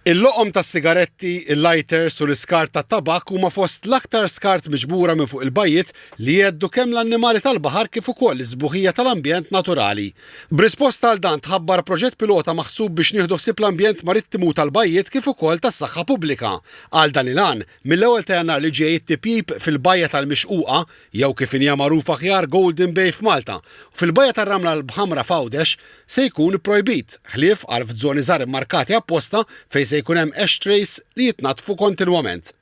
Il-loqom tas-sigaretti, il-lighters u l-iskart tat-tabakk huma fost l-aktar skart miġbura minn fuq il-bajjiet li jheddu kemm l-annimali tal-baħar kif ukoll is-sbuħija tal-ambjent naturali. B'risposta għal dan tħabbar proġett pilota maħsub biex nieħdu ħsieb l-ambjent marittimu tal-bajjiet kif ukoll tas-saħħa pubblika. Għal dan il-għan, mill-ewwel ta' Jannar li ġej it-tipjip fil-bajja tal-Mixquqa jew kif inhija magħruf aħjar Golden Bay f'Malta, u fil-Bajja tar-Ramla l-B'Ħamra f'Għawdex, se jkun ipprojbit, ħlief għal f'zoni żgħar immarkati apposta fejn se jkun hemm ashtrays li jitnaddfu kontinwament.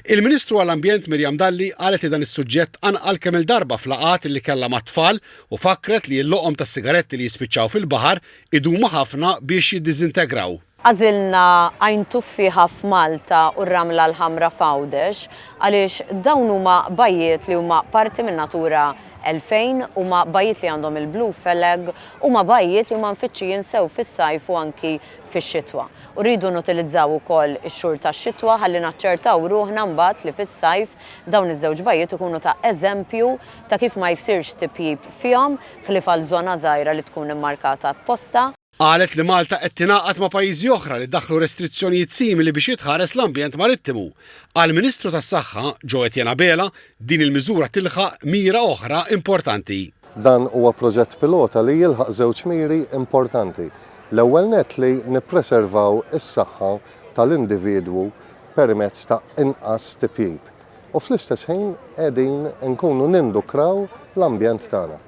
Il-Ministru għall-Ambjent Miriam Dalli qalet li dan is-suġġett qanqal kemm-il darba f'laqgħat li kellha mat-tfal u fakkret li l-loqom tas-sigaretti li jispiċċaw fil-baħar idumu ħafna biex jiddiżintegraw. Għażilna Għajn Tuffieħa f'Malta u r-Ramla l-Ħamra f'Għawdex għaliex dawn huma bajjiet li huma parti minn Natura 2000, huma bajjiet li għandhom il-Blue Flag, huma bajjiet li huma mfittxijin sew fis-sajf u anki fix-xitwa. U rridu nutilizzaw ukoll ix-xhur tax-xitwa ħalli naċċertaw ruħna mbagħad li fis-sajf dawn iż-żewġ bajjiet ikunu ta' eżempju ta' kif ma jsirx tipjip fihom, ħlief għal żona żgħira li tkun immarkata apposta. Qalet li Malta qed tingħaqad ma' pajjiżi oħra li daħħlu restrizzjonijiet simili biex jitħares l-ambjent marittimu. Għall-Ministru tas-Saħħa, Jo Etienne Abela, din il-miżura tilħaq mira oħra importanti. Dan huwa proġett pilota li jilħaq żewġ miri importanti. L-ewwel nett li nippreservaw is-saħħa tal-individwu permezz ta' inqas tipjip u fl-istess ħin qegħdin inkunu nindukraw l-ambjent tagħna.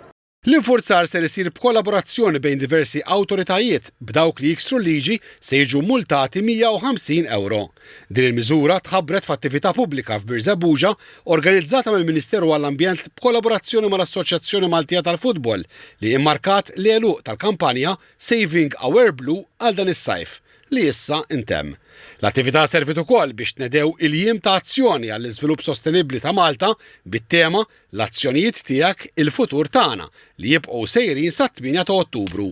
L-infurzar ser isir b'kollaborazzjoni bejn diversi awtoritajiet, b'dawk li jiksru l-liġi se jiġu mmultati 150 ewro. Din il-miżura tħabbret f'attività pubblika f'Birżebbuġa organizzata mill-Ministeru għall-Ambjent b'kollaborazzjoni mal-Assoċjazzjoni Maltija tal-Futbol li immarkat l-għeluq tal-kampanja Saving Our Blue għal dan is-sajf li issa ntemm. L-attività serviet ukoll biex tnedew il-Jiem ta' Azzjoni għall-Iżvilupp Sostenibbli ta' Malta bit-tema l-azzjonijiet tiegħek, il-futur tagħna, li jibqgħu sejrin sat-8 ta' Ottubru.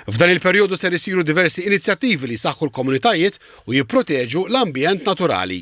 F'dan il-perjodu ser isiru diversi inizjattivi li jsaħħu l-komunitajiet u jipproteġu l-ambjent naturali.